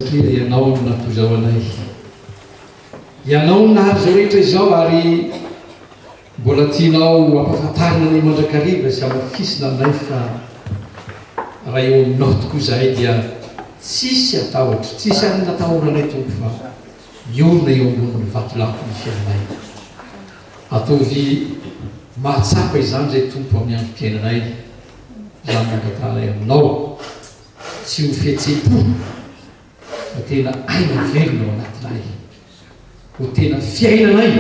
Satria Ianao no nampizao anay. Ianao no nahary izao rehetra izao ary mbola tianao hampafantarina anay mandrakariva sy hamafisina aminay fa raha eo Aminao tokoa izahay dia tsisy hatahotro, tsisy hanina atahoranay Tompo fa miorina eo ambonin'ny vatolampy ny fiainanay. Ataovy mahatsapa izany izay Tompo amin'ny androm-piainanay izany mangatahanay Aminao. Tsy ho fihetsem-po fa tena aina velona ao anatinay. Ho tena fiainanay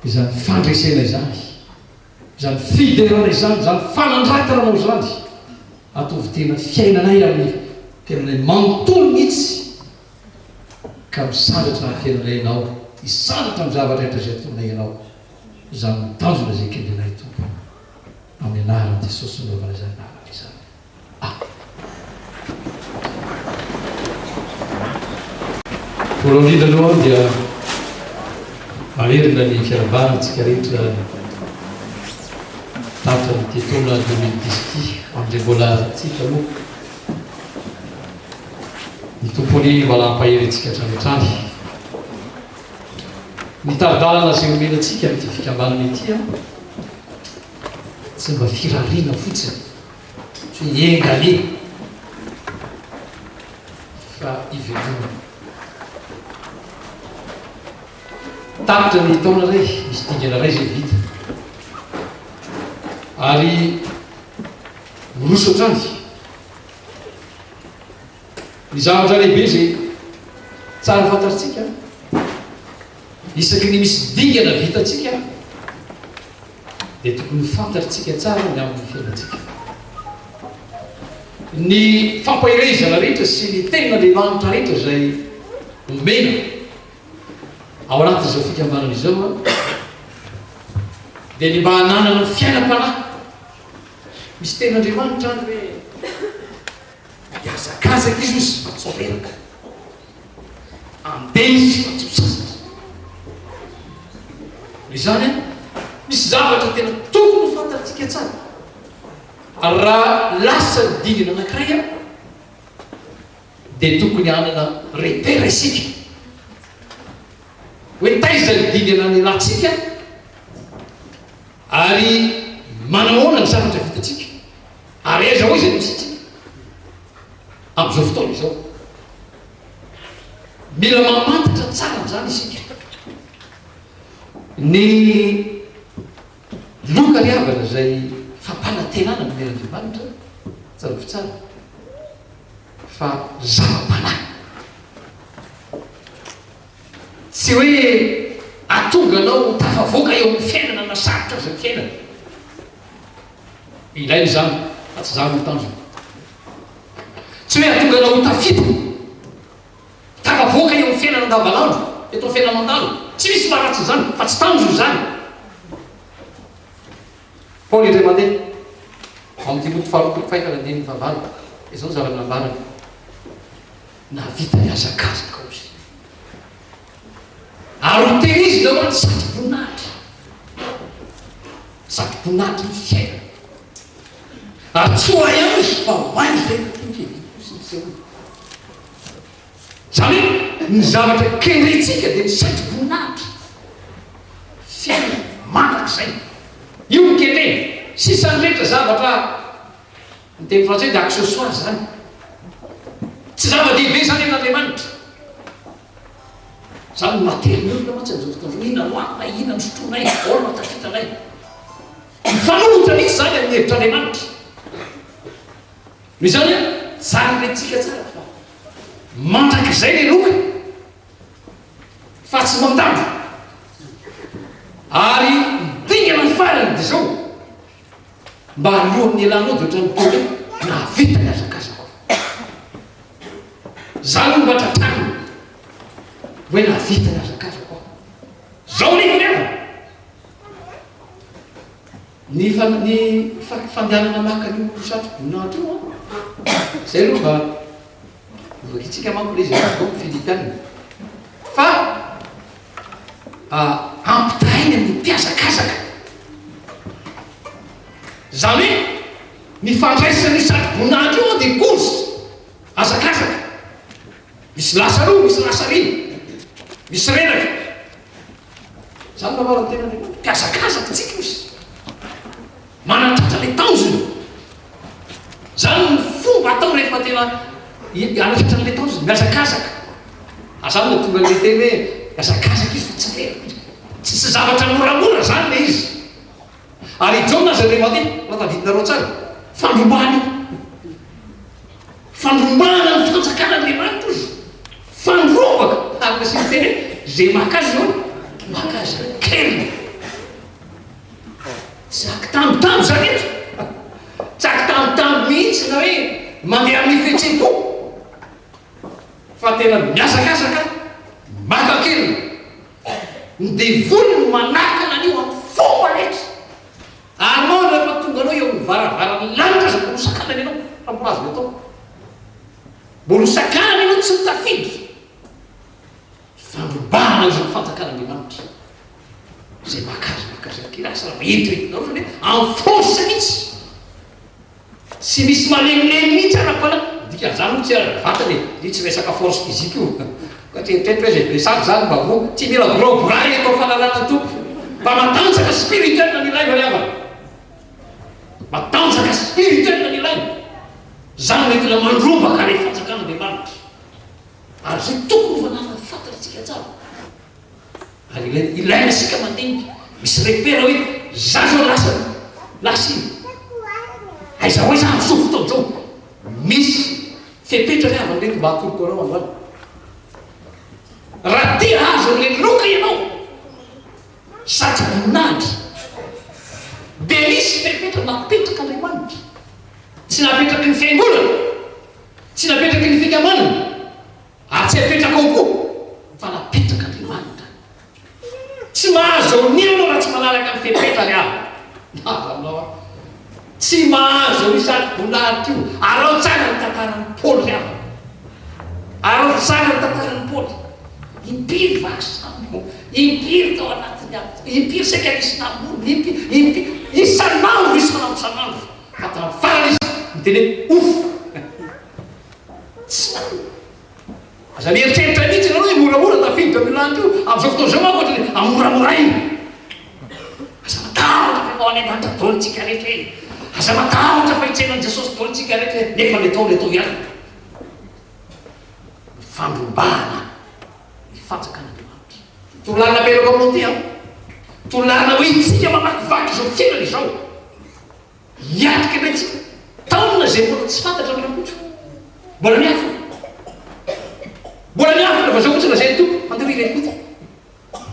izany fandresena izany, izany fiderana izany, izany fanandratananao izany. Ataovy tena fiainanay amin'ny tenanay manontolo mihitsy ka misandratra hahafiainanay Ianao, hisandratra amin'ny zavatra rehetra izay tononay Ianao. Izany no tanjona izay kendrenay, Tompo. Amin'ny anaran'i Jesosy no nanaovana izany lalana izany. Voalohany indrindra aloha dia mamerina ny firavahana antsika rehetra tapitra amin'ity taona deux mille dix ity amin'izay mbola tsika moa ny Tompo anie mbola hampahery antsika hatrany hatrany. Ny tari-dalana izay omena antsika amin'ity fikambanana ity tsy mba firariana fotsiny tsy ny enganie fa ivelomany. Tapitra ny taona ray, misy dingana ray izay vita. Ary miroso hatrany. Ny zavatra lehibe izay tsara fantatsika, isaky ny misy dingana vitantsika, dia tokony ho fantatrtsika tsara ny amin'ny fiainantsika. Ny fampaherezana rehetra sy ny tena lehilahintra rehetra izay omena ao anatin'izao fikambanana izao dia ny mba hananana fiainam-panahy misy ten'Andriamanitra any hoe mihazakazaka izy hoy Soateraka. amin'ny teny sy fantsony sasany. Noho izany, misy zavatra tena tokony ho fantatsika tsara ary raha lasa ny dingana anankiray dia tokony hanana repère isika hoe taiza ny dingana nialantsika ary manahoana ny zavatra vitantsika ary aiza hoy izay nosintsika. amin'izao fotoana izao. Mila mamantatra tsara an'izany isika. Ny loka ry havana izay fampanantenana amin'ny Andriamanitra, tsarovy tsara fa zava-panahy. Tsy hoe atonga anao ho tafavoaka eo amin'ny fiainana na sarotra aza ny fiainana. Ilaina izany fa tsy izany no tanjona. Tsy hoe hahatonga anao ho tafita, tafavoaka eo amin'ny fiainana andavanandro, eto amin'ny fiainana mandalo. Tsy misy maharatsy an'izany fa tsy tanjona izany. Paoly indray mandeha, ao amin'ny Timoty faharoapolo fahefany andininy fahavalo, dia izao ny zavatra nambarany, Nahavita ny hazakazakao izy. Ary ho tehirizina ho an'ny sady boninahitry ny sady boninahitry ny fiainana. Ary tsy ho ahy ihany izy fa ho an'ny rehetra tia ny fiaviako sy ny sehoany. Izany hoe ny zavatra kendrentsika dia ny sady boninahitry ny fiainana mandrakizay. Io no kendreny. Sisan'ny rehetra zavatra, ny teny frantsay dia accessoire izany. Tsy zava-dehibe izany amin'Andriamanitra. Za no matery ny olona mantsy amin'izao fotoana izao. Inona no antony na inona no sotroinay na ahoana no tafitranay? Mifanohitra mihitsy izany amin'ny hevitr'Andriamanitra. Noho izany an, tsara rentsika tsara fa mandrakizay ny loka fa tsy mandalo. Ary dingana ny farany dia izao. mba alohan' ny hialana ao dia ohatran' ny toy ny hoe nahavita ny hazakazako aho. Izaho aloha mba tratranina hoe nahavita ny hazakazako aho. Izao ny hilevana, ny fa ny fa fandehanana maka an' io satroboninahitra io an, izay aloha mba. Novakintsika manko le izay atao ny Filipina fa ampitahaina ny mpihazakazaka. Izany hoe ny fandraisan'io sadibonary io dia kozy, hazakazaka. Misy lasa aloha, misy lasa aoriana, misy reraka. Izany no anaran'ny tenany, mpihazakazaka tsika ozy. Manandratra le tanjony. Izany no fomba atao rehefa tena hianatra an'ilay tanjona, mihazakazaka. Aza no tonga dia hiteny hoe mihazakazaka izy fa tsy very loatra. Tsy tsy zavatra moramora izany ilay izy. Ary i Jaona izay Levanty, raha tadidinareo tsara, fandrombahana io. Fandrombahana ny fanjakan'Andriamanitra izy. Fandrombaka, ary nasiany teny hoe, izay maka azy izao, maka azy kely. Jaky tambitamby zany eto a! Jaky tambitamby mihitsy nareo e! Mandeha amin'ny fihetseham-po fa tena mihazakazaka maka kely ny devoly no manakana an'io amin'ny fomba rehetra ary moa rehefa tonga anao eo amin'ny varavaran'ny lanitra aza mbola ho sakanany ianao fa mbola azony atao mbola ho sakanany ianao tsy ho tafiditra Fandrobana izany fanjakan'Andriamanitra izay mahakasika mahakasika ny kira samy hety rehetra izany hoe en force mihitsy tsy misy malemilemy mihitsy araka fa ny dikan'izany moa tsy araka vatana e io tsy resaka force physique io fa tsy eritreritra hoe izay be sazy izany mba ho tsy mila boraboraina eto amin'ny fananan'ny Tompo fa matanjaka spirituel ny ilaina ry havana matanjaka spirituel ny ilaina izany no entina mandroba kare fanjakan'Andriamanitra Ary izay tokony ho fanarina fantatsika tsara. Ary ilaina, ilaina isika mandinika. Misy repera hoe iza zao lasa ny lasa iny. Aiza ho aiza amin'izao fotoana izao. Misy fepetra ny havany mety mba hakorokorao androany. Raha te hahazo an'ilay loka ianao sady voninahitra dia misy fepetra napetraka Andriamanitra. Tsy napetraky ny fiangonana. Tsy napetraky ny fikamanana ary tsy apetrakao koa fa napetrak'Andriamanitra. Tsy mahazo eo ny anao raha tsy manaraka ny fepetrany aho. Mazanao aho. Tsy mahazo eo izato boninahitra io. Araho tsara ny tantaran'i Paoly ry havana. Araho tsara ny tantaran'i Paoly. Impiry vaky sambo, impiry tao anatin'ny afo, impiry saika nisy namorona, impiry, impiry, isan'andro, isan'andro, isan'andro. Hatramin'ny farany izy niteny hoe Ouff! Tsy marina! Aza mieritreritra mihitsy ianareo hoe moramora tafiditra amin'io lanitra io. Amin'izao fotoana izao manko ohatran'ny hoe amoramoraina. Aza matahotra fa efa ao an'Andriamanitra daholo isika rehetra e! Aza matahotra fa hitsainan'i Jesosy daholo isika rehetra e! Nefa ny atao no atao ihany. Fandrombahana. ny fanjakan'Andriamanitra. Torolalana apetrako aminao ity an! Torolalana ho entintsika mamakivaky izao fiainana izao. Hiatrika indray isika taona izay mbola tsy fantatra ny Rakoto. Mbola miafina. Mbola miafina fa izao fotsiny lazain'ny Tompo, andeha ho irery fotsiny.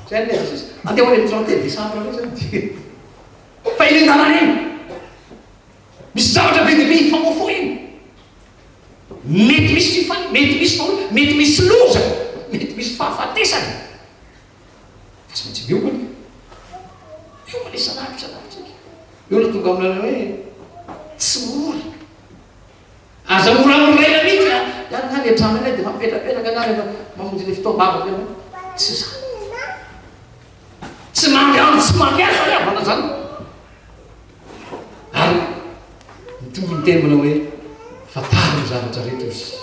Izay no lazain'i Jesosy. Andeha ho irery trente et un décembre indray izany dia fa eny an-dalana eny. Misy zavatra be dia be hifamofoy eny. Mety misy tsy faly, mety misy fahoriana, mety misy loza, mety misy fahafatesana. Fa tsy maintsy miomana e. Miomana isan'andro isan'andro tsika. Eo no tonga amin'ilay hoe tsy ory. Aza moramorena mihitsy a. Ihany nga ny an-trano any dia mampipetapetaka nga rehefa mamonjy ilay fotoam-bavaka ianao. Tsy izany. Tsy mandry andro tsy mampiasa ny havana izany. Ary mitovy miteny manao hoe fantaro ny zavatra rehetra izy,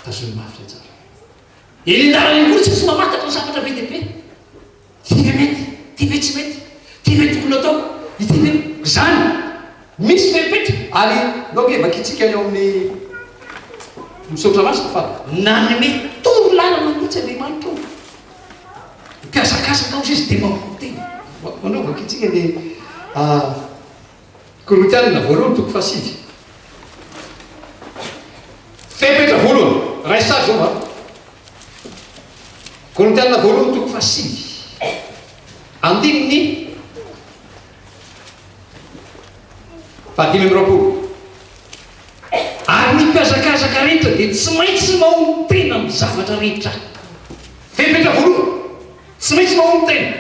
tazony mafy le tsara. Elendara ihany koa ny sasy mamantatra ny zavatra be dia be. Ty ve mety? Ty ve tsy mety? Ty ve tokony atao? Ity ve? Izany. Misy fepetra. Ary nao ve vakitsika ny ao amin'ny Misaotra Masina fa. Nanome toro lalana mihitsy Andriamanitra ao. Mikasakasaka ozy izy dia mamono tena. Manao vakitsiny ny Korintianina voalohany toko fahasivy. Fepetra voalohany, iray sary izao an. Korintianina voalohany toko fahasivy. Andininy fahadimy amby roapolo. Ary ny mpiazakazaka rehetra dia tsy maintsy mahomby tena amin'ny zavatra rehetra. Fepetra voalohany, tsy maintsy mahomby tena.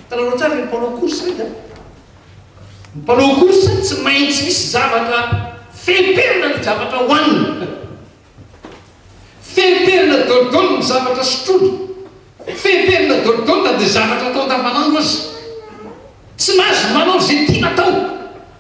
Tanaoranao tsara ireny mpanao course ireny an! Ny mpanao course tsy maintsy misy zavatra feperina ny zavatra hohaniny, feperina daholo ny zavatra sotroiny, feperina daholo na dia zavatra atao andavanandro aza. Tsy mahazo manao izay tiana atao.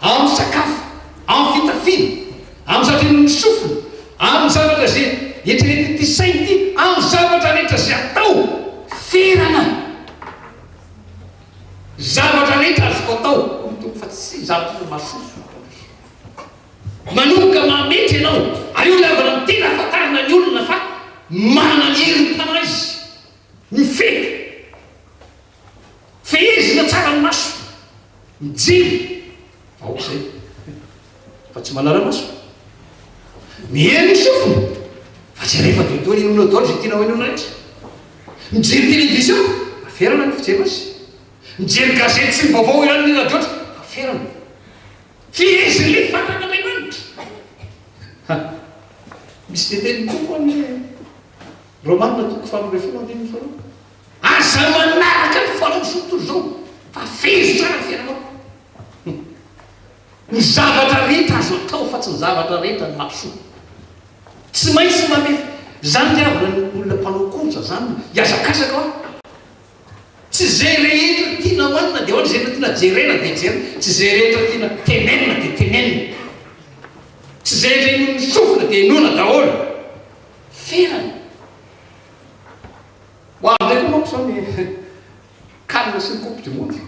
amin'ny sakafo, amin'ny fitafiana, amin'ny zandrin'ny sofina, amin'ny zavatra izay eritreretin'ity saina ity, amin'ny zavatra rehetra izay atao, ferana, zavatra rehetra azoko atao, hoy ny Tompo, fa tsy izaho tokoa no mahasoa. Manomboka mametra ianao, ary io ilay havana tena ahafantarana ny olona fa manana ny herim-panahy izy, mifehy. Fehezina tsara ny maso, mijery fa ok zay fa tsy manara-maso. Miely ny sofina fa tsy rehefa dodoy inona daholo izay tianao inona rehetra. Mijery television fa ferana ny fijeriny azy. Mijery gazety sy ny vaovao ihany ny radio aza fa ferana. Feheziny ilay fanahin'Andriamanitra. Ha, misy tetehany koa koa anie Romana toko faharoa ambin'ny folo andininy faharoa. Aza manaraka ny fanosoa toy izao fa fehezy tsara ny fiainanao. Humm. Ny zavatra rehetra azo atao fa tsy ny zavatra rehetra no mampisoa. Tsy maintsy mame zany ny havana ny olona mpanao course zany hiazakazaka hoa. Tsy ze rehetra tiana hoanina de hoanina, ze rehetra tiana jerena de jerena, tsy ze rehetra tiana tenenina de tenenina, tsy ze rehetra inoan'ny sofina de inoana daholo. Ferana. Ho avy indray koa manko izao ny Can sy ny Coupe du Monde.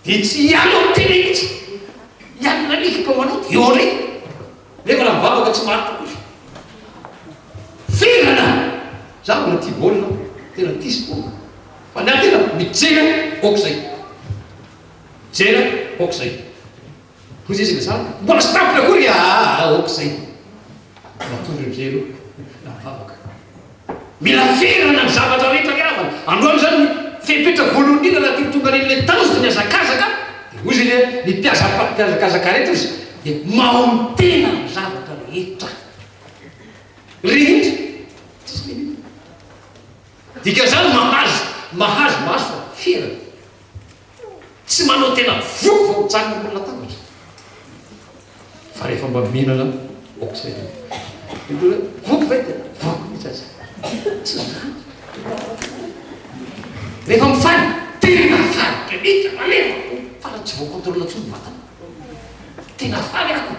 Dia tsy hiala ny tena mihitsy. Hiala indray ny ekipa manao dia eo indray. Nefa raha mivavaka tsy marina koa izy. Fendrana! Izaho mbola tia baolina, tena tia sport. Fa ny ahy tena mijery aho aoka izay. Mijery aho aoka izay. Hoy Jeso ilay zanaka, Mbola tsy tampony akory a! Aa ok zay! Matory ny helo na ny vavaka. Mila ferana ny zavatra rehetra ry havana. Androany izany ny fepetra voalohany indrindra raha tiako tonga an'ilay tanjona ny hazakazaka dia hoy izy ilay ny mpiaza mpiazakazaka rehetra izy dia maontena ny zavatra rehetra. Rehetra. Tsisy limite. Dikan'izany mahazo, mahazo, mahazo fa ferana. Tsy manao tena voa vao mijanona ambony latabatra fa rehefa mba mihinana aok'izay dia mety hoe voako ve dia voako mihitsy aza. Tsy izany. Rehefa mifaly, tena faly be mihitsy, malemy aho, fa raha tsy voakontrôle intsony ny vatana. Tena faly aho.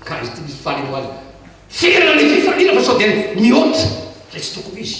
Ka izy ity misy faly eo aza. Ferana ny fifaliana fa sao dia mihoatra izay tsy tokony ho izy.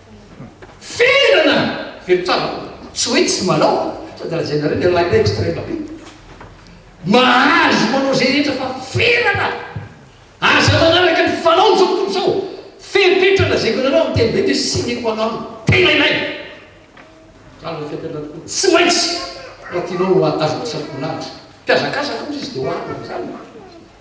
Ferana! Very trano! Tsy hoe tsy manao sady raha zay nareo dia lainay extreme be. Mahazo manao zay rehetra fa ferana! Aza manaraka ny fanao zao tontolo zao! Fepetra lazaiko anareo amin'ny teny be de sine qua non tena ilaina! Mijanona fepetra tokoa tsy maintsy raha tianao ho azon'ny sampona lahatra. Mpihazakazaka ozy izy dia ho avy amin'izany.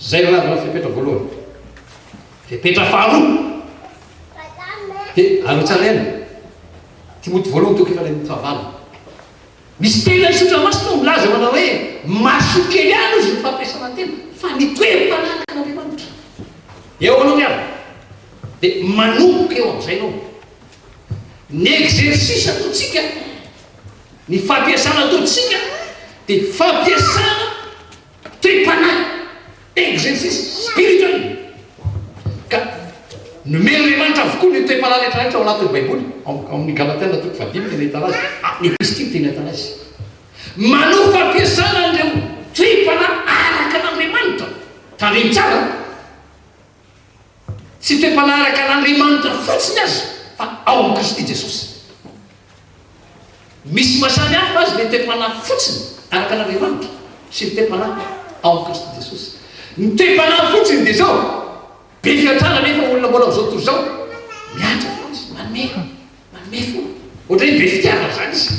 Izay no azonao fepetra voalohany. Fepetra faharoa dia arotsalaina. Timoty voalohany toko efatra amin'ny fahavalo. Misy tena isotra masina ao milaza manao hoe mahasoa kely ihany hozy ny fampiasana tena fa ny toem-pananaka an'Andriamanitra eo anao ihany dia manomboka eo amin'izay ianao. Ny exercice ataontsika, ny fampiasana ataontsika dia fampiasana Tem-panahy, exercice spirituel, ka nomen'Andriamanitra avokoa ny tem-panahy rehetra rehetra ao anatin'ny Baiboly, ao amin'ny Galatiana toko fahadimy tena ahitana azy, amin'ny Episitily tena ahitana azy. Manao fampiasana an'ireo tem-panahy araka an'Andriamanitra. Tandremo tsara an! Tsy toe-panaraka an'Andriamanitra fotsiny aza fa ao amin'i Kristy Jesosy. Misy maha samy hafa azy ilay toe-panahy fotsiny araka an'Andriamanitra sy ny toe-panahy ao amin'i Kristy Jesosy. Ny toe-panahy fotsiny dia izao, be fiantrana anefa olona mbola amin'izao tontolo izao, miantra foana izy, manome, manome foana, ohatran'ny hoe be fitiavana izany izy.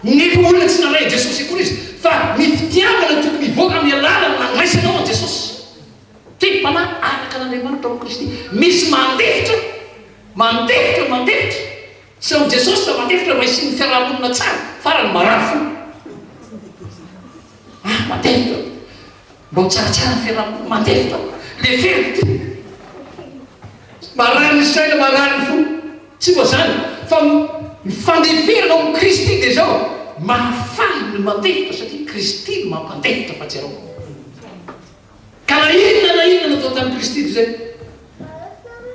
Nefa olona tsy nalain'i Jesosy akory izy, fa ny fitiavana tokony hivoaka amin'ny alalan'ny nandraisanao an'i Jesosy. Teny mpanahy araka an'Andriamanitra ao Kristy. Misy mandefitra, mandefitra, mandefitra. Tsy amin'i Jesosy fa mandefitra mba hisian'ny fiaraha-monina tsara, farany marary fo. Ah, mandefitra. Mba ho tsaratsara ny fiaraha-monina, mandefitra. Lefero ity. Marary ny saina, marary ny fo. Tsy mba zany, fa ny fandeferana ao amin'i Kristy dia izao, mahafaly ny mandefitra satria Kristy no mampandefitra fa tsy ianao. Ka na inona na inona natao tamin'i Kristy dia izay,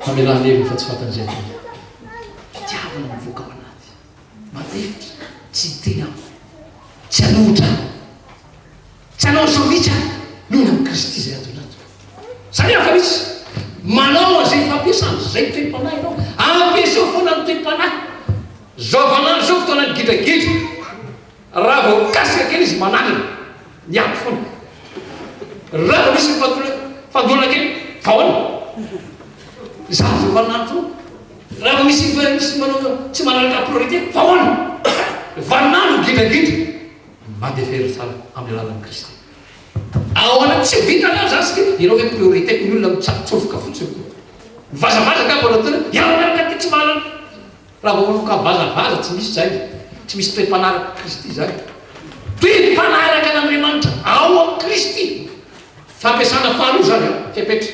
hamelana heviny fa tsy fatan'izay atao. Fitiavana mivoaka ao anaty, malefitra, tsy hiteny aminy, tsy hanohitra ahy, tsy hanao ny sambitsy ahy, noho ny amin'i Kristy izay ato anaty. Izany aho fa misy manao an'izay fampiasana izay toe-panahy ianao, ampiasao foana ny toe-panahy. Izao vaninandro izao fotoanan'ny gidragidra. Raha vao mikasika kely izy mananina, miato foana. Raha vao misy mifandona kely, taona. Izaho vao manana toa. Raha vao misy misy manao tsy manaraka priorité, taona. Vanona gidragidra, mandeha very tsara amin'ny alalan'i Kristy. Ao anaty tsy vitany aho zany satria ianao ve priorité ny olona mitsatotsofoka fotsiny koa. Mivazavaza ka vao natao hoe ianao miaraka aty tsy mahalala. Raha vao manoka vazavaza tsy misy izay, tsy misy toe mpanaraka Kristy izay. Toe mpanaraka an' Andriamanitra ao am Kristy, fampiasana faharoa izany an, fepetra,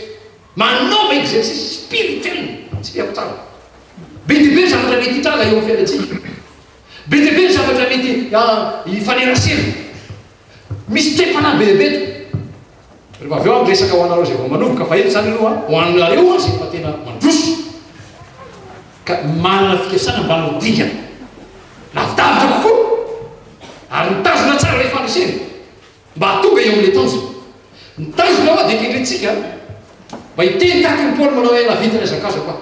manaova exercice spirituel, tsipihako tsara. Be dia be ny zavatra mety hitranga eo am fiainantsika. Be dia be ny zavatra mety hifanerasera. Misy toe-panahy bebe eto. Rehefa avy eo aho miresaka ho anareo izay vao manovoka vahiny izany aloha, ho anareo hono izay efa tena mandroso ka manana fikasana mba hanao dingana lavidavitra kokoa ary mitazona tsara ilay fandresena mba hahatonga eo amin'ilay tanjona. Ny tanjona ho'a dia kendrentsika mba hiteny tahaka an'i Paoly manao hoe nahavita ny azakazako aho.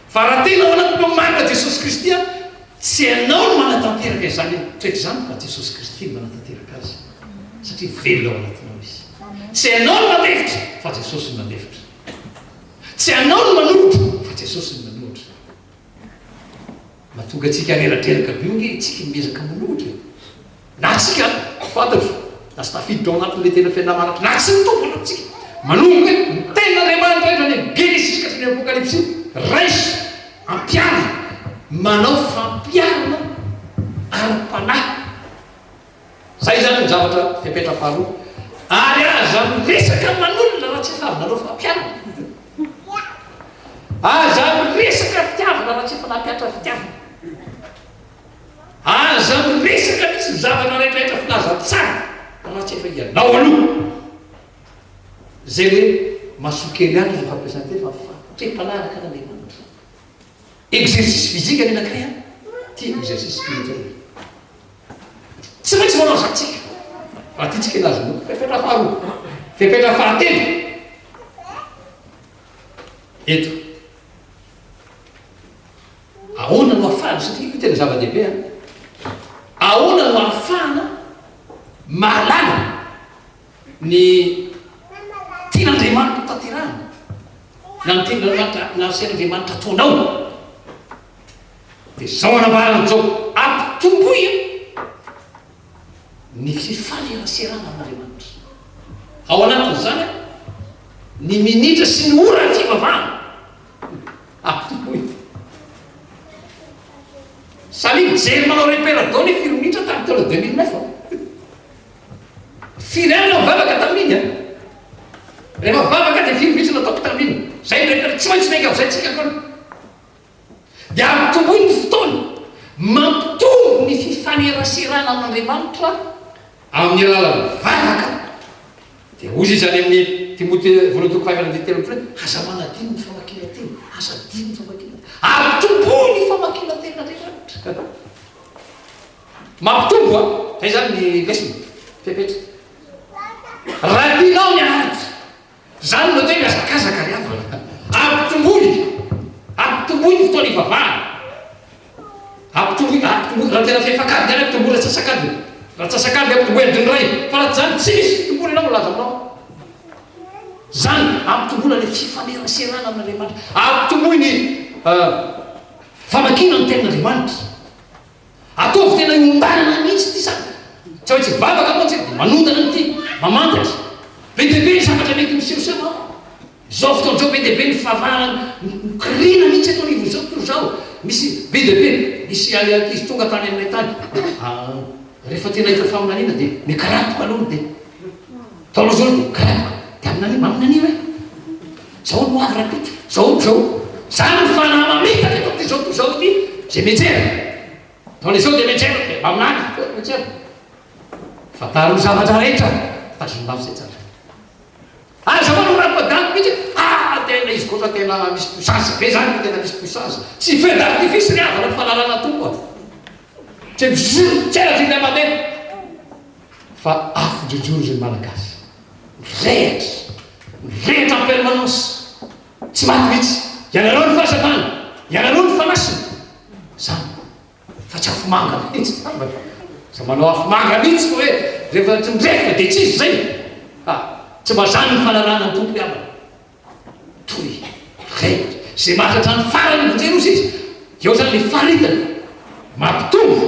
Fa raha tena ao anatinao ny marina Jesosy Kristy an, tsy ianao no manatanteraka izany toetra izany fa Jesosy Kristy no manatanteraka azy satria velona ao anatinao Izy. Tsy ianao no mandefitra fa Jesosy no mandefitra. Tsy ianao no manohitra fa Jesosy no manohitra. Mahatonga antsika reratreraka be io nge tsiky miezaka manohitra e. Na isika ary, ao fantatra, lasa tafiditra ao anatin'ilay tena fiainana maranitra. Na tsy mitovy ny lokontsika. Manomboka hoe ny tenin'Andriamanitra indray any amin'ny Genesisy ka hatramin'ny Apokalypsy, raiso, ampiaro, manao fampiharana ara-panahy. Izay izany ny zavatra fepetra faharoa. Ary aza miresaka aman'olona raha tsy efa avy nanao fampiharana. Aza miresaka fitiavana raha tsy efa nampiatra fitiavana. Aza miresaka mihitsy ny zava nanaindrahindra filaza tsara fa raha tsy efa ianao aloha zay le masokely any aza fampiasan-teny fa fatotra mpanaraka an Andriamanitra exercice physique anie nakay an ty exercice spirituel tsy maintsy manao zany tsika raha ty tsika nazo no fepetra faharoa fepetra fahatelo eto Ahoana no ahafahana, satria io tena zava-dehibe an, ahoana no ahafahana mahalala ny tian'Andriamanitra hotanterahana, na ny tenin'Andriamanitra nasian'Andriamanitra ataonao? Dia izao anambarany izao, ampitomboy ny fifaneraserana amin'Andriamanitra. Ao anatin'izany an, ny minitra sy ny ora fivavahana Salut mijery manao repère dao ny firy minitra tamin'ny taona deux mille neuf Firy ihany no nivavaka tamin'iny an? Rehefa vavaka dia firy mihitsy no ataoko tamin'iny? Izay ny repère tsy maintsy miainga amin'izay tsika akory. Dia ampitomboy ny fotoana mampitombo ny fifaneraserana amin'Andriamanitra amin'ny alalan'ny vavaka. Dia hoy izy any amin'i Timote voalohany toko fahaefatra andininy telo amby folo hoe, Aza manadino ny famakiana teny, aza adino ny famakiana teny, ary tompoy ny famakiana teny an'Andriamanitra. Mampitombo an! Izay izany ny lesona, fepetra. Raha tianao ny art, izany no atao hoe mihazakazaka ry havana. Ampitomboy, ampitomboy ny fotoana hivavahana. Ampy tomoe, ampy tomoe, raha tena fefak'ady ihany ampy tomoe, ratsasak'ady, ratsasak'ady ampy tomoe adin'ny iray, fa raha tsy izany tsy misy tomoe ianao milaza aminao. Izany ampitomboina ilay fifaneraserana amin'Andriamanitra, ampitomboy ny famakiana ny tenin'Andriamanitra. Ataovy tena iontanana mihitsy ity sady tsy maintsy mivavaka mantsy dia manotana an'ity, mamantatra. Be dia be ny zavatra mety misehoseho ao. Zao fotoana zao be dia be ny fahavarana mikoriana mihitsy eto anivon'ny sekoly zao misy be dia be misy any ankizy tonga tany aminay tany ah rehefa tena hita faminaniana dia mikarapoka aloha ny dia tao aloha zao dia karapoka dia aminani maminania hoe zao no avy rapito zao no zao zany ny fanahy mamitaka eto amin'ity zao tontolo zao ity zay mianjera tao le zao dia mianjera dia maminany mianjera fantaro ny zavatra rehetra tazom-bavy zay tsara Ary za manao rap adalo mitsy ah tena izy koa fa tena misy puissance be zany fa tena misy puissance tsy feu d'artifice ry havana falalana tompo a tsy bzzz tsela tsy hita mandeha fa afo jojoro zay malagasy mirehatra mirehatra en permanence tsy maty mitsy ianareo ny fahazavana ianareo ny fanasina zany Fa tsy afomanga mihitsy angambany e! Izay manao afomanga mihitsy no hoe rehefa tsy mirefoka dia tsy izy izay! Ha! Tsy mba izany ny fanarahana ny Tompo namana! Toy ireny izay maty hatramin'ny faran'ny vonjeo sisa, eo izany ilay faritany mampitombo.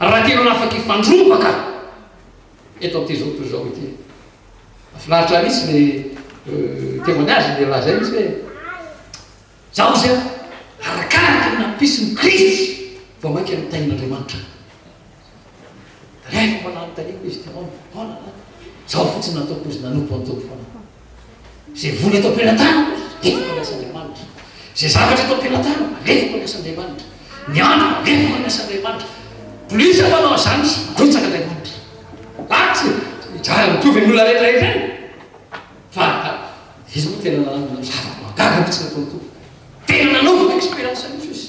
Raha tena afaka hifandrombaka eto amin'ity zoto izao ity. Mahafinaritra mihitsy ny euh, témoignage dia lazainy izy hoe zaho izay arakaraka ny nampisiny Kristy vao mainka ny tahin'Andriamanitra. Rehefa mananontaniako izy, taona, taona, zaho fotsiny nataoko izy nanompo an'Tompo foana. Izay vola eto am-pelatanako, alefako ny asan'Andriamanitra. Izay zavatra eto am-pelatanako, alefako ny asan'Andriamanitra. Ny andro, alefako ny asan'Andriamanitra. Polisy aho manao izany, tsy betsaka Andriamanitra. Ah, tsy, hijaly amin'ny tovy ny olona rehetra rehetra any. Fa, izy moa tena nanana zavatra mahagaga mihitsy nataony Tompo. Tena nanaovako expérience mihitsy izy.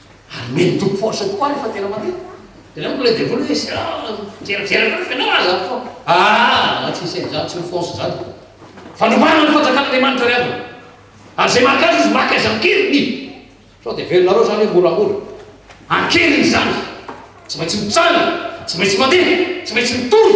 Hanome ny Tompo force tokoa ary fa tena marina. Tena amiko ilay devoly hoe zay raha mijeravera anareo fa ianao aza fo. Aa tsy hisy an'izany, tsy ho force izany. Fanomana ny fanjakan'Andriamanitra ry havana. Ary zay maka azy izy maka azy an-keriny. Sao dia velonareo izany hoe moramora. An-keriny izany. Tsy maintsy mitsangana, tsy maintsy mandeha, tsy maintsy mitory.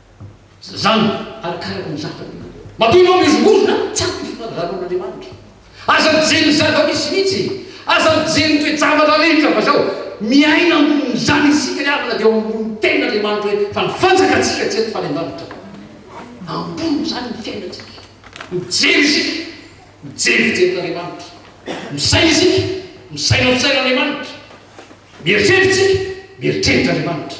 Zazango, arakaraky ny zafiny ianareo. Matoa ianao mihozongozona, tsy ampy ny fifangararon'Andriamanitra. Aza mijery ny zava-misy mihitsy e! Aza mijery ny toe-javatra rehetra fa zao, miaina ambonin'izany isika ry havana dia eo ambonin'ny tenin'Andriamanitra hoe fa ny fanjakantsika tsy eto fa any an-danitra. Ambony izany ny fiainantsika. Mijery isika, mijery fijerin'Andriamanitra. Misaina isika, misaina fisainan'Andriamanitra. Mieritreritra isika, mieritreritra Andriamanitra.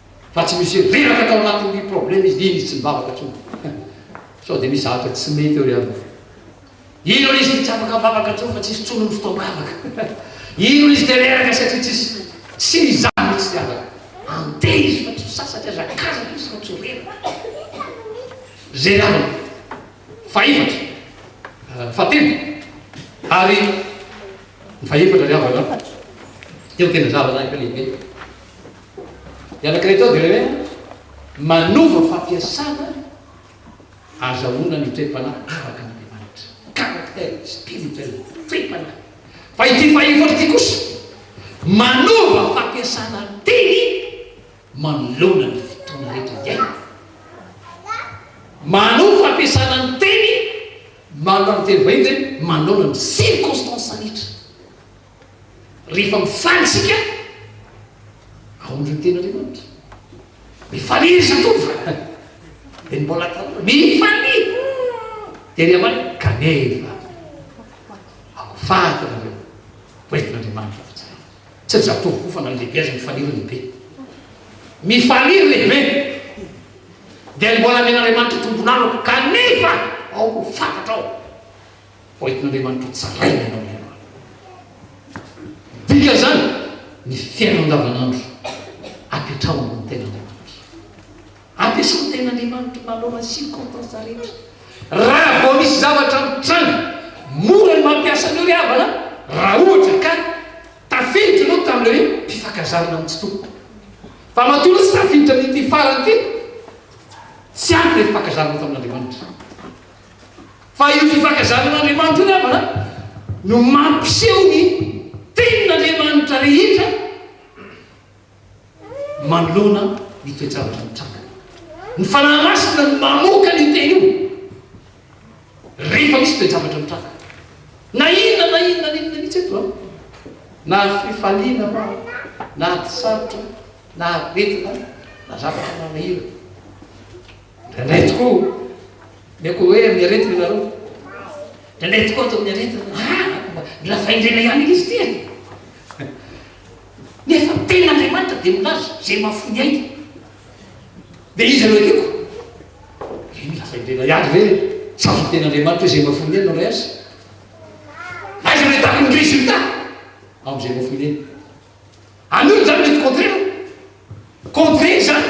fa tsy misy reraka tao anatin'ity problème izy iny izy tsy mivavaka tsony sao de misy zavatra tsy mety eo ry aloha ino izy de tsy afaka mivavaka tsony fa tsisy tsony ny fotoam-bavaka ino izy de reraka satria tsisy tsy izany mitsy tsy afaka ante izy fa tsy fisasatra aza kazaka izy fa tsy reraka zay namana fa efatra euh, fa telo ary fa efatra ry havana teo tena zavana efa lehibe Ny anankiray atao dia ilay hoe manova fampiasana ahazahoana ny toe-panahy araka an'Andriamanitra, caractère spirituel, toe-panahy. Fa ity fahefatra ity kosa manova fampiasana teny manoloana ny fotoana rehetra iainana. Manova fampiasana ny teny manoloana ny teny vahiny izay manoloana ny circonstances rehetra. Rehefa mifaly isika, ahoana ireo tenin'Andriamanitra? Mifalia ry zatovo a! Dia ny mbola tanora, mifalia! Dia ry ambany, kanefa, ao faty ianareo, ho entin'Andriamanitra fa tsara. Tsy ry zatovo koa fa na ny lehibe aza mifalia ry lehibe. Mifalia ry lehibe! Dia ny mbola amen'Andriamanitra tompon'anako, kanefa ao ho faty hatrao. ho entin'Andriamanitra ho tsaraina ianao ny androany. Ny dikan'izany, ny fiainana andavanandro apetraho ambony tenan'Andriamanitra. Ampiasao ny tenan'Andriamanitra mba hanaovana circonstances rehetra. Raha vao misy zavatra mitranga, mora ny mampiasa an'io ry havana raha ohatra ka tafiditra ianao tamin'ilay hoe mpifankazarana amin'ny tsy tokony. Fa matoa izy tafiditra amin'ity farany ity, tsy ampy ilay fifankazarana tamin'Andriamanitra. Fa io fifankazaran'Andriamanitra io namana no mampiseho ny tenin'Andriamanitra rehetra manoloana ny toe-javatra mitranga. Ny Fanahy Masina no mamoaka an'io teny io rehefa misy toe-javatra mitranga. Na inona na inona na inona mihitsy eto an! Na fifaliana ma, na ady sarotra, na aretina, na zavatra manahirana. Indraindray tokoa. Ny akoho hoe amin'ny aretina ianareo. Indraindray tokoa ato amin'ny aretina. Ah, mila fahendrena ihany izy ity e. Nefa ny tenin'Andriamanitra dia milaza izay mahafoy ny ainy. Dia izy ireo ekeko. Ry mila fahendrena ihany ve? Sa ny tenin'Andriamanitra izay mahafoy ny ainy no rehaza? Aiza no ahitako ny résultat? Amin'izay mahafoy ny ainy. Anio izany mety contraire an! Contraire izany!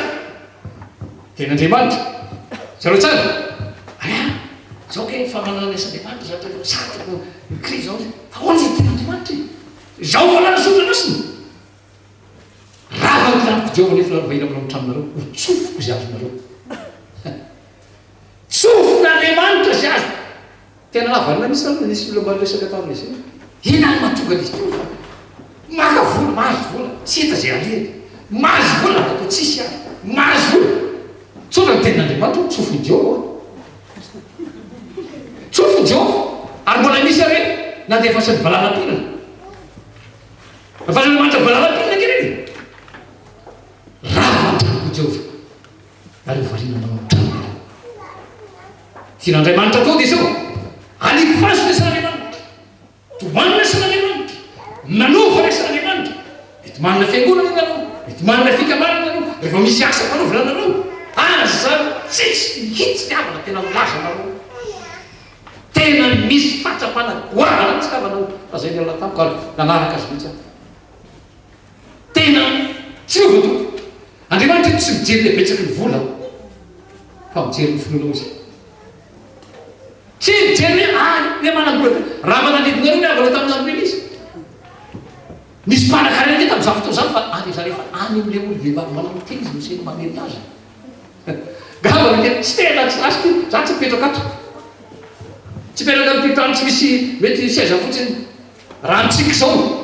Tenin'Andriamanitra. Hitanao tsara? Aa! Izao kay ny famanana asa Andriamanitra zany rehefa sady no mi-crie izao izy. Ahoana izany tenin'Andriamanitra e? Izao no fananany soratra masina. Rava ny tranoko Jehovah nefa rovahina manao ny tranonareo ho tsofiko izay azonareo. Tsofin'Andriamanitra izay azoko. Tena nahavanona mihitsy zany nisy olona mba niresaka taminy izay. Inona no mahatonga an'izy teo fa maka vola, mahazo vola, tsy hita izay alehany, mahazo vola raha toa tsisy aza, mahazo vola, tsotra ny tenin'Andriamanitra hoe tsofin'i Jehovah aho, tsofin'i Jehovah, ary mbola misy ary hoe nandefasin'ny valala-pihinana, nandefasin'Andriamanitra valala-pihinana ange ireny e! Rava an-tranoko i Jehovah. ary hovariana manao ny tranony ianao. Tian'Andriamanitra atody izao, Alifazo ny asan'Andriamanitra, Tomany ny asan'Andriamanitra, Manova ny asan'Andriamanitra, mety manana fiangonana ianareo, mety manana fikambanana ianareo, rehefa misy asa mpanaovina anareo, aza mitsitsy mihitsy ny havana tena milaza anareo. Tena misy fahatsapana goavana mihitsy ny havanao, lazain'i Allah tamiko ary nanaraka azy mihitsy aho. Tena tsirovy Tompo. Andriamanitra io tsy mijery ny habetsaky ny vola fa mijery ny finoanao Izy. Tsy mijery hoe ah le manam-bola be. Raha manalidinareo ny havana tamin'ny andron'Elia izy. Nisy mpanankarena aty tamin'izany fotoana izany fa any izany rehefa any amin'ilay olom-behivavy manao ny tena izy no sain'ny mamery azy. Gavana kely tsy tena tsy last io. Za tsy mipetraka ato. Tsy mipetraka amin'ny tany tsy misy mety seza fotsiny. Raha mitsiky izao.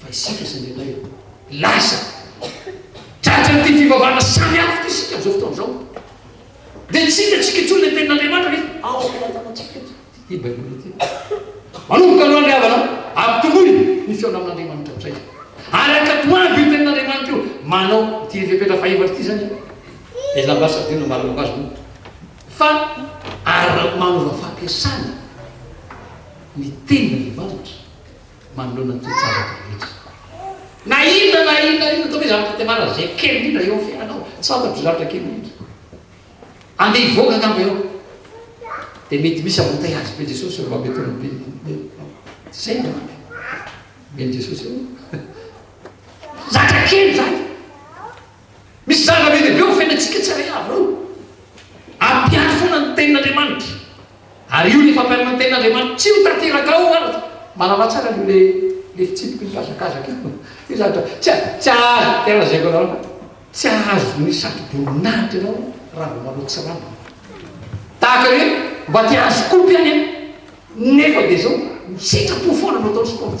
fa isika izay mety ho lasa tratran'ity fivavahana samy hafa ity isika amin'izao fotoana izao dia tsy hitantsika intsony ilay tenin'Andriamanitra nefa ao am-pelatanantsika eto ity Baiboly ity. Manomboka aloha ny havana, ampitomboy ny fihaona amin'Andriamanitra amin'izay. Araka toavy io tenin'Andriamanitra io, manao ity fepetra fahefatra ity izany ilay ambasadiora nambaranako azy moa fa ary manova fampiasana ny tenin'Andriamanitra manoloana ny toe-javatra rehetra. Na inona na inona na inona, ataovy hoe zavatra tena malaza, izay kely indrindra eo amin'ny fiainanao, tsy fantatro zavatra kely indrindra. Andeha hivoaka angamba ianao, dia mety misy hamontay azy, be Jesosy eo, mety hoe be, be, tsy izay no ampy, be Jesosy eo, zatra kely izany. Misy zava-be lehibe eo fiainantsika tsirairay avy ireo. Ampiato foana ny tenin'Andriamanitra. Ary io ny fampianana ny tenin'Andriamanitra. Tsy ho tanteraka ao ary. Mahalala tsara an'io le le fitsipiky mihazakazaka io. Io zany dra. Tsy a, tsy azo, tena lazaiko anareo fa tsy azo ny satroboninahitra ianao raha vao manao tsirambina. Tahaka ny hoe mba te hahazo kopy any an, nefa dia izao, ny sitrapo foana no ataony sport.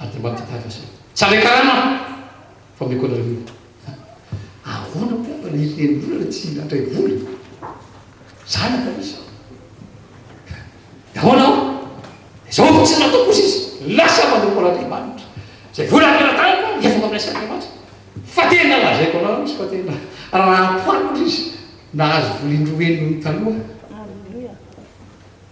Ady maty gaga zay. Tsara karama fa omeko anareo io. Ahoana moa mba ny reniolona tsy handray vola? Zanaka misy an. Dia ahoana ao? Izao fa tsy nataoko kosa izy. Lasa manompo an'Andriamanitra. Izay vola angalatahiko an, efako amin'ilay Sain'Andriamanitra. Fa tena lazaiko anareo izy fa tena raha ampohariko izy nahazo vola indroa heny noho ny taloha.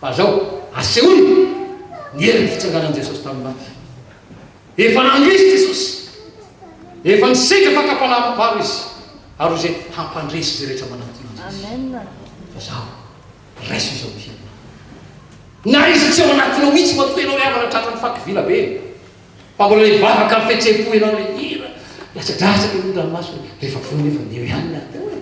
Fa zao, asehoy ny herin'ny fitsanganan'i Jesosy tamin'ny maty. Efa nandresy Jesosy. Efa nisedra fakam-panahavam-bava Izy, ary ho izay hampandresy izay rehetra manatona Azy Izy. Fa zao, raiso izao hira. Na iza tsy ao anatinao mihitsy matoa ianao ry havana tratran'ny faky vila be. Fa mbola hivavaka am fihetsem-po ianao le hira Latsadratsaka ny ranomasony rehefa voa nefa eo ihany ny ady oe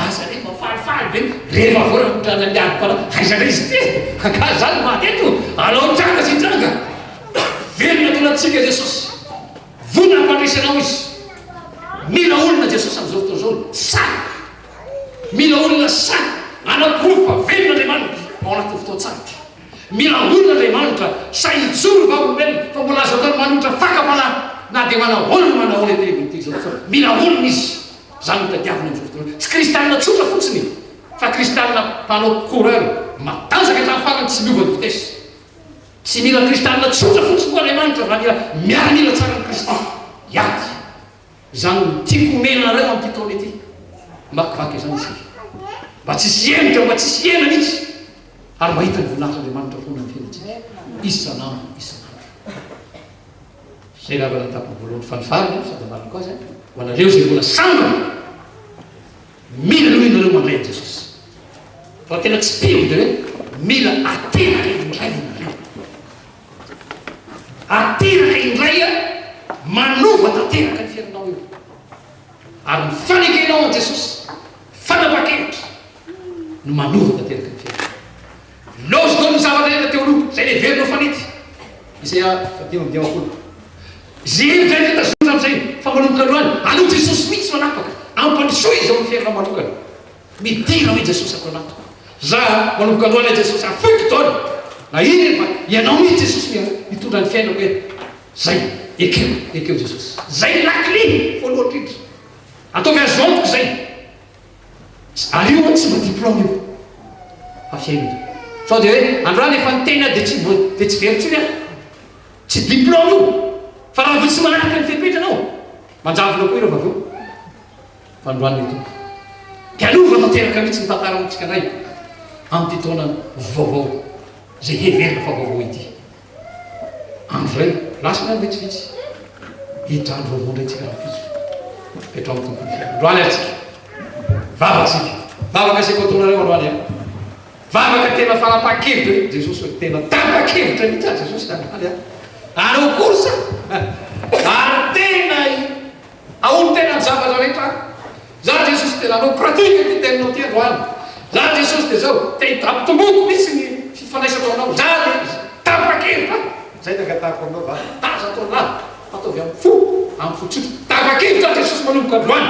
Aza re mba falifaly ve rehefa voa raha mitranga ny ady Fa aiza ndray izy ity e Ka za no maty eto alao hitranga sy hitranga Velona tao anatintsika Jesosy Vonona hampandresy anao izy Mila olona Jesosy amzao fotoana zao sahy Mila olona sahy Anaporofo fa velona Andriamanitra ao anatin'ny fotoan-tsarotra Mila olona Andriamanitra, sahy hijoro ny vavolombelona, fa mbola azo atao ny manohitra fakam-panahy, na dia manao ahoana na manao ahoana ity Evanjely izao, fa mila olona izy, izany no tadiaviny amin'izao fotoana izao, tsy kristianina tsotra fotsiny e, fa kristianina mpanao coureur, matanjaka hatramin'ny farany tsy miova ny vitesse. Tsy mila kristianina tsotra fotsiny koa Andriamanitra, fa mila miaramila tsara amin'i Kristy, hiady. Izany no tiako omena anareo amin'ity taona ity. Hamakivaky izany isika, mba tsy hisy hemotra, mba tsy hisy hena mihitsy, ary mba hahita ny voninahitr'Andriamanitra foana amin'ny fiainantsika, isan'andro isan'andro. Izay angamba no atapin'ny voalohany fa ny farany, sady amarako azy, ho anareo izay mbola sambany, mila aloha ianareo mandray an'i Jesosy. Raha tena tsy mpino dia hoe mila ateraka indray ianareo. Ateraka indray a, manova tanteraka ny fiainanao eo ary ny fanekenao an'i Jesosy fanapa-kevitra no manova tanteraka ny fiainanao. Lôzy dôly ny zavatra hita teo aloha, izay neverina ho fanity. Isaia fahadimy amby dimampolo. Izay hevitra rehetra tazonina amin'izay fa manomboka androany, aleho Jesosy mihitsy manapaka, ampandrosoy izy ao amin'ny fiainanao manokana. Midera hoe Jesosy ato anatiko. Za manomboka aloha ilay Jesosy ary foiko daholo na ino ino fa ianao mihitsy Jesosy no hitondra ny fiainako e. Zay. Ekeo, ekeo Jesosy. Zay ny lakile voalohany indrindra. Ataovy azy eo amiko zay. Ary io tsy mba diplôme io fa fiainana. Sao dia hoe androany efa niteny aho dia tsy mbo dia tsy very intsony aho. Tsy diplôme io fa raha vao tsy manaraka ny fepetra anao manjavona koa ireo vavao. Fandroan' ny Tompo. Dialoha tanteraka mihitsy ny tantara notsika indray amin' ity taona vaovao izay heverina fa vaovao ity. Andro izay lasa ny andro vitsivitsy hiditra andro vaovao indray tsika rahampitso. Petraho amin' ny Tompo ny fiainana. Androany ary tsika vavaka tsika vavaka aseko ataon' areo androany an! Vavaka tena fanapahan-kevitra mihitsy Jesosy hoe tena tapa-kevitra mihitsy aho Jesosy androany an! Anao kosa ary tena Ahoa ny tena zavatra rehetra any? Za Jesosy dia nanao pratique ity teninao ity androany. Za Jesosy dia zao, te hidabontomboko mitsy ny fifandraisako aminao. Za le izy. Tapa-kevitra aho. Zay ny angatahako aminao va? Tazako anah. Ataovy am fo, am fo tsotra. Tapa-kevitra aho Jesosy manomboka androany.